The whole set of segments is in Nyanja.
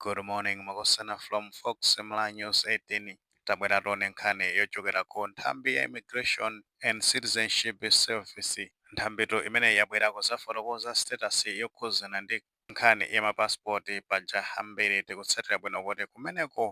Good morning Makosana from Fox Mla News 18 tabwera tione nkhani yochokera ku nthambi ya Immigration and Citizenship Service. Nthambitu imeneyi yabwera kuzafotokoza status yokhuzana ndi nkhani ya ma passport paja ambiri tikutsatira bwino kuti kumeneko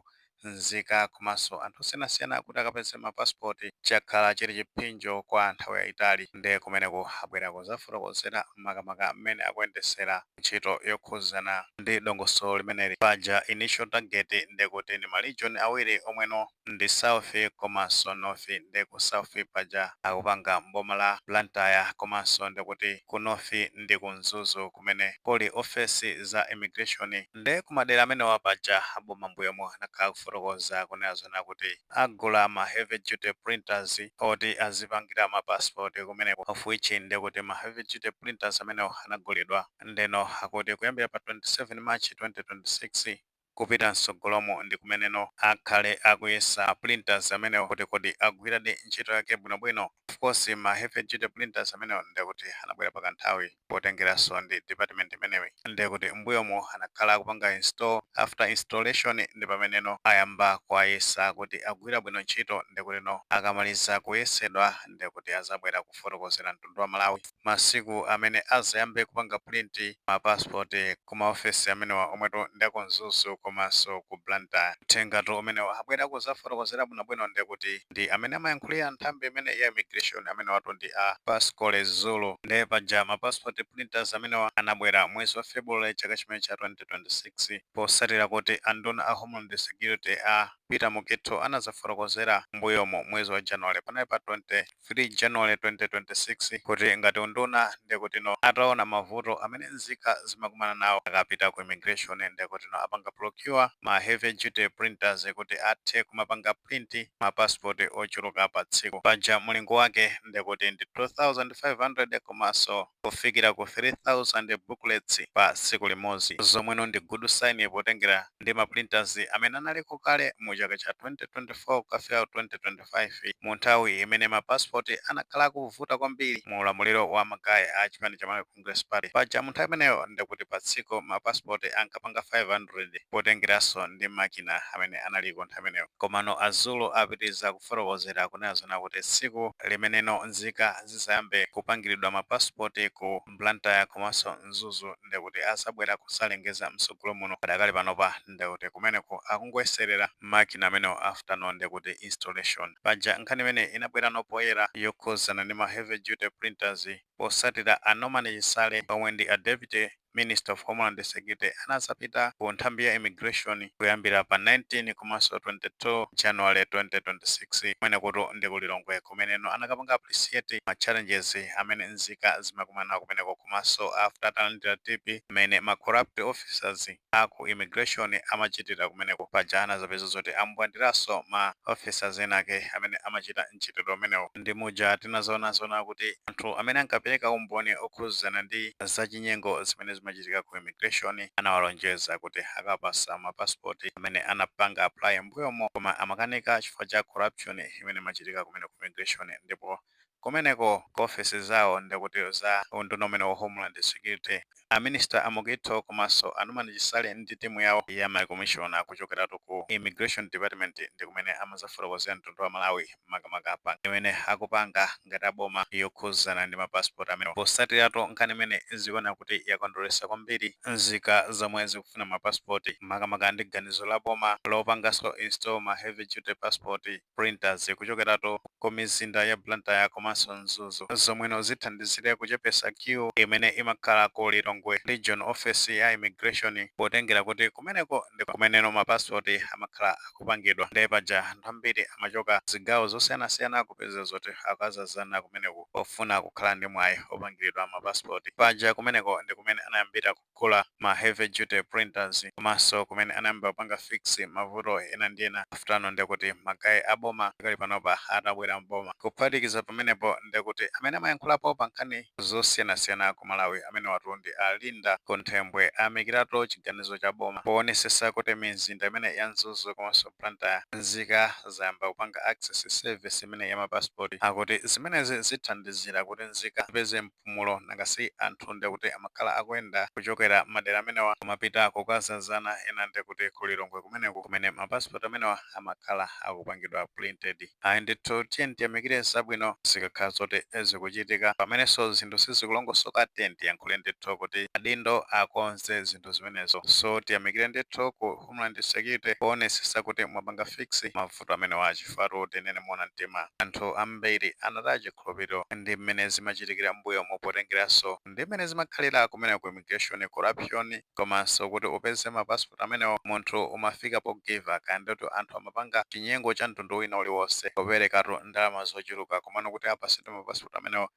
nzika komanso anthu osiyanasiyana kuti akapeze ma passport chakhala chili chiphinjo kwa nthawi yaitali nde kumeneku abwera kuzafotokozera makamaka mmene akuyendesera ntchito yokhuzana ndi dongosolo limeneli paja initial target ndekuti ndi ma region awiri omwe no ndi south komanso north nde ku south paja akupanga m'boma la Blantyre komanso ndekuti ku north ndi ku Mzuzu kumene kuli ofesi za immigration Nde kumadera amenewa paja aboma mbuyomo anakhala akufotokoza kunena zoona kuti agula ma heavy duty printers oti azipangira ma passport kumeneko of which nde kuti ma heavy duty printers amenewo anagulidwa ndeno akuti kuyambira pa 27 March 2026 kupita mtsogolomu ndi kumeneno akhala akuyesa ma printers amenewo kuti kodi agwiradi ntchito yake bwinobwino. Of course ma heavy duty printers amenewo nde kuti anabwera pa kanthawi. potengeranso ndi department imeneyi ndekuti mbuyomo anakhala akupanga install, after installation ndipameneno ayamba kuwayesa kuti agwira bwino ntchito ndekutino akamaliza kuyesedwa ndekuti azabwera kufotokozera mtundu wa Malawi masiku amene azayambe kupanga print ma passport ku ma office amenewa omwetu ndi aku Mzuzu komanso ku Blantyre. Uthengatu umenewo abwera kuzafotokozera bwinobwino ndekuti. ndi amene amayankhulira nthambi imeneyi ya immigration amenewatu ndi a Pasqually Zulu nde paja ma passport printers amenewa anabwera mwezi wa February chaka chimenechi cha 2026 posatira kuti a nduna a homeland security a Peter Mukhitho anazafotokozera mbuyomo mwezi wa January panali pa 23 January 2026 kuti ngati unduna ndekutino ataona mavuto amene nzika zimakumana nawo akapita ku immigration ndekutino apanga procure ma heavy duty printers kuti athe kumapanga print ma passport ochuluka pa tsiku paja mulingo wake ndekuti ndi 2500 komanso kufikira ku 3000 booklets pa tsiku limodzi zomweno ndi good sign potengera ndi ma printers amene analiko kale mu chaka cha 2024 kukafika ku 2025. 5 mu nthawi imene ma passport anakhala akuvuta kwambiri mu ulamuliro wa ma guy a chipani cha Malawi Congress Party. Paja mu nthawi imeneyo ndekuti pa tsiku ma passport ankapanga 500 potengeranso ndi makina amene analiko nthawi imeneyo. Komano a Zulu apitiliza kufotokozera kunena zoona kuti tsiku limeneno nzika zizayambe kupangilidwa ma passport ku. Blantyre komanso Mzuzu nde kuti azabwera kuzalengeza mtsogolo muno padakali panopa nde kuti kumeneko akungoyeserera makina amenewo after no nde kuti installation. Paja nkhani imene inabwerano poyera yokhuzana ndi ma heavy duty printers posatira a Norman Chisale omwe ndi a Deputy Minister of Homeland Security anazapita ku nthambi ya immigration kuyambira pa 19 komanso 22 January 2026 kumenekotu ndi ku Lilongwe kumeneno anakapanga appreciate ma challenges amene nzika zimakumana nawo kumeneko komanso after atalandira tip imene ma corrupt officers a ku immigration amachitira kumeneko, paja anazapeza zoti ambwandiranso ma officers enake amene amachita mchitidwe umenewu. Ndi muja tinazaonaona kuti anthu amene ankapereka umboni okhudzana ndi zachinyengo zimene zimachitika ku immigration anawalonjeza kuti akawapatsa ma passport amene anapanga apply m'mbuyomo koma amakanika chifukwa cha corruption. imene imachitika kumene ku immigration ndipo kumeneko ku office zawo ndekuti za unduna umenewu wa homeland security a minister a Mukhito komanso a Norman Chisale ndi timu yawo ya ma commissioner kuchokeratu ku immigration department ndikumene amazafotokozera mtundu wa Malawi makamaka pa imene akupanga ngati a boma yokhuzana ndi ma passport amenewa posatiratu nkhani imene zikuoneka kuti yakondweretsa kwambiri nzika zomwe zikufuna ma passport, makamaka ndi ganizo la boma lopanganso install ma heavy duty passport printers kuchokeratu ku mizinda ya Blantyre komanso Mzuzu zomweno zithandizire kuchepetsa queue imene imakhala ku Lilongwe Region Office ya Immigration potengera kuti kumeneko ndi kumeneno ma passport amakhala kupangidwa nde paja anthu ambiri amachoka zigawo zosiyanasiyana kupeza zoti akazazana kumeneku pofuna kukhala ndi mwayi opangilidwa ma passport. Paja kumeneko ndi kumene anayambira kugula ma heavy duty printers komanso kumene anayambira kupanga fix mavuto ena ndi ena after no ndekuti ma guy a boma pakali panopa atabwera m'boma. Kuphatikiza pamenepo ndekuti amene amayankhulapo pa nkhani zosiyanasiyana ku Malawi amenewatu ndi a Linda Kunthembwe ayamikiratu chiganizo cha boma powonesesa kuti mizinda imene ya Mzuzu komanso Blantyre nzika zayamba kupanga access service imeneyi ya ma passport akuti zimenezi zithandizira kuti nzika zipeze mpumulo nanga si anthu ndekuti amakhala akuyenda kuchokera madera amenewa kumapita kukazazana ena ndekuti ku Lilongwe kumeneku kumene ma passport amenewa amakhala akupangidwa printed. Ayi ndithu tiyeni tiyamikire zabwino zikakhala zoti zikuchitika. Pamenenso zinthu sizikulongosoka tiyeni tiyankhule ndithu kuti adindo akonze zinthu zimenezo. So tiyamikire ndithu ku Homeland Security poonetsetsa kuti mwapanga fix mavuto amenewa chifukwatu tinene moona mtima anthu ambiri anataya chikhulupiriro ndi mmene zimachitikira mmbuyomu potengeranso ndi mmene zimakhalira kumeneko ku immigration corruption komanso kuti upeze ma passport amenewo munthu umafika po give up kaya ndetu anthu amapanga chinyengo cha mtundu wina uliwonse poperekatu ndalama zochuluka komano kuti apasidwe ma passport amenewo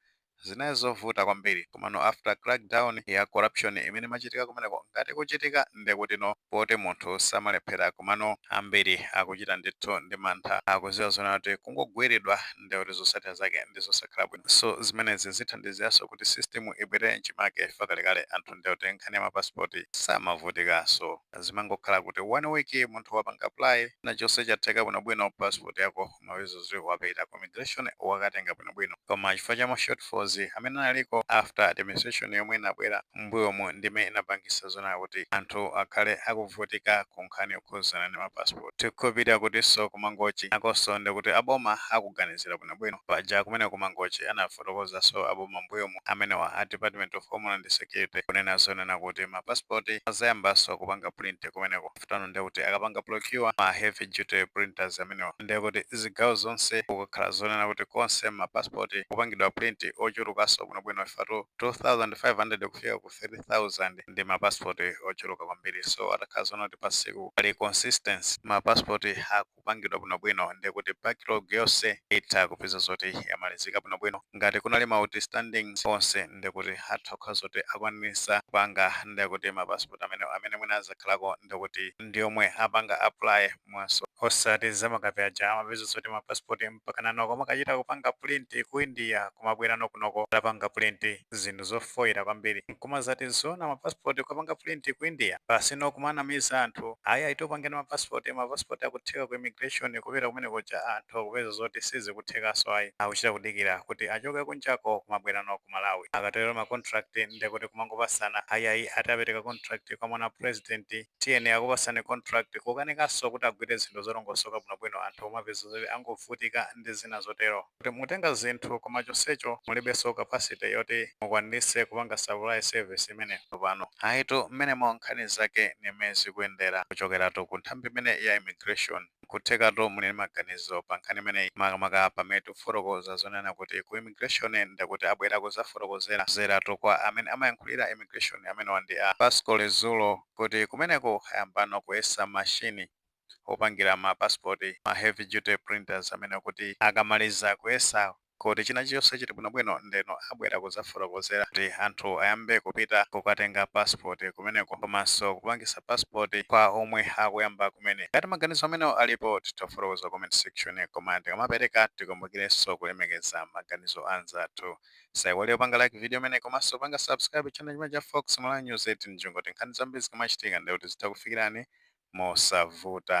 zinali zovuta kwambiri komano after crackdown ya corruption imene imachitika kumeneko ngati ikuchitika ndekuti no poti munthu samalephera komano ambiri akuchita ndithu ndi mantha akuziwa zonena kuti kungogwiridwa nde kuti zosatira zake ndi zosakhala bwino so zimenezi zithandiziranso kuti system ibwerere m'chimake chifukwa kalekale anthu nde kuti nkhani ya ma passport samavutikanso zimangokhala kuti one week munthu wapanga apply china chonse chatheka bwinobwino passport yako umapeza zoti wapita ku immigration wakatenga bwinobwino koma chifukwa cha ma shortfalls amene analiko after administration yomwe inabwera mbuyomu ndi imene inapangisa zonena kuti anthu akhale akuvutika ku nkhani yokhuzana ndi ma passport tikupita kutinso ku Mangochi nakonso ndikuti aboma akuganizira bwinobwino paja kumeneko ku Mangochi anafotokozanso aboma mbuyomu amenewa a department of homeland security kunena zonena kuti ma passport azayambanso kupanga print kumeneko pano ndiye kuti akapanga procure ma heavy duty printers amenewa ndiye kuti zigawo zonse kukakhala zonena kuti konse ma passport akupangidwa print ochulukanso bwinobwino ifatu 2500 kufika ku 3000 ndi ma passport ochuluka kwambiri so atakhala zonena kuti pa tsiku pali consistency ma passport aku kupangidwa bwinobwino ndiye kuti backlog yonse itha kupeza zoti yamalizika bwinobwino. Ngati kunali ma outstanding onse ndiye kuti atha kukhala zoti akwanitsa kupanga ndiye kuti ma passport amene amene mwina azakhalako ndiye kuti ndiomwe apanga apply manso. Osati zamakapezi paja amapeza zoti ma passport mpakana kumakachita kupanga print ku India kumabwera nawo kunoko atapanga print. zinthu zofoira kwambiri nkumazati zoona ma passport kupanga print ku India basi nkumanamiza anthu ayi ayi tikupanga ma passport ma passport akutheka ku immigration kupita kumene kuja anthu akupeza zoti sizikuthekanso ayi akuchita kudikira kuti achoke kunjako kumabwera nawo ku Malawi akatero ma contract ndekuti kumangopasana ayi ayi ati apereka contract kwa mwana wa president tiyeni akupasane contract kukanikanso kuti agwire zinthu zolongosoka bwinobwino anthu kumapeza zoti angovutika ndi zina zotero. kuti mutenga zinthu koma chonsecho mulibenso capacity yoti mukwanitse kupanga supply service imeneyo tsopano ayitu mmenemo nkhani zake ndi mmene zikuyendera kuchokeratu ku nthambi imeneyi ya immigration nkuthekatu muli ndi maganizo pa nkhani imeneyi makamaka pamene tifotokoza zonena kuti ku immigration ndekuti abwera kuzafotokozera dera lathu kwa amene amayankhulira immigration amenewa ndi a Pasqually Zulu kuti kumeneko ayambano kuyesa machine opangira ma passport, ma heavy duty printers amene kuti akamaliza kuyesa kuti china chilichonse chili bwinobwino ndeno abwera kuzafotokozera kuti anthu ayambe kupita kukatenga passport kumeneko komanso kupangisa passport kwa omwe akuyamba kumene. Ngati maganizo amenewo alipo titha kufotokoza ku comment section koma tikamapereka tikumbukirenso kulemekeza maganizo a anzathu. Saiwale kupanga like video imene komanso panga subscribe channel chimene cha Fox Malawi News 18 ndi cholinga choti nkhani zambiri zikamachitika ndiye kuti zitha kufikirani mosavuta.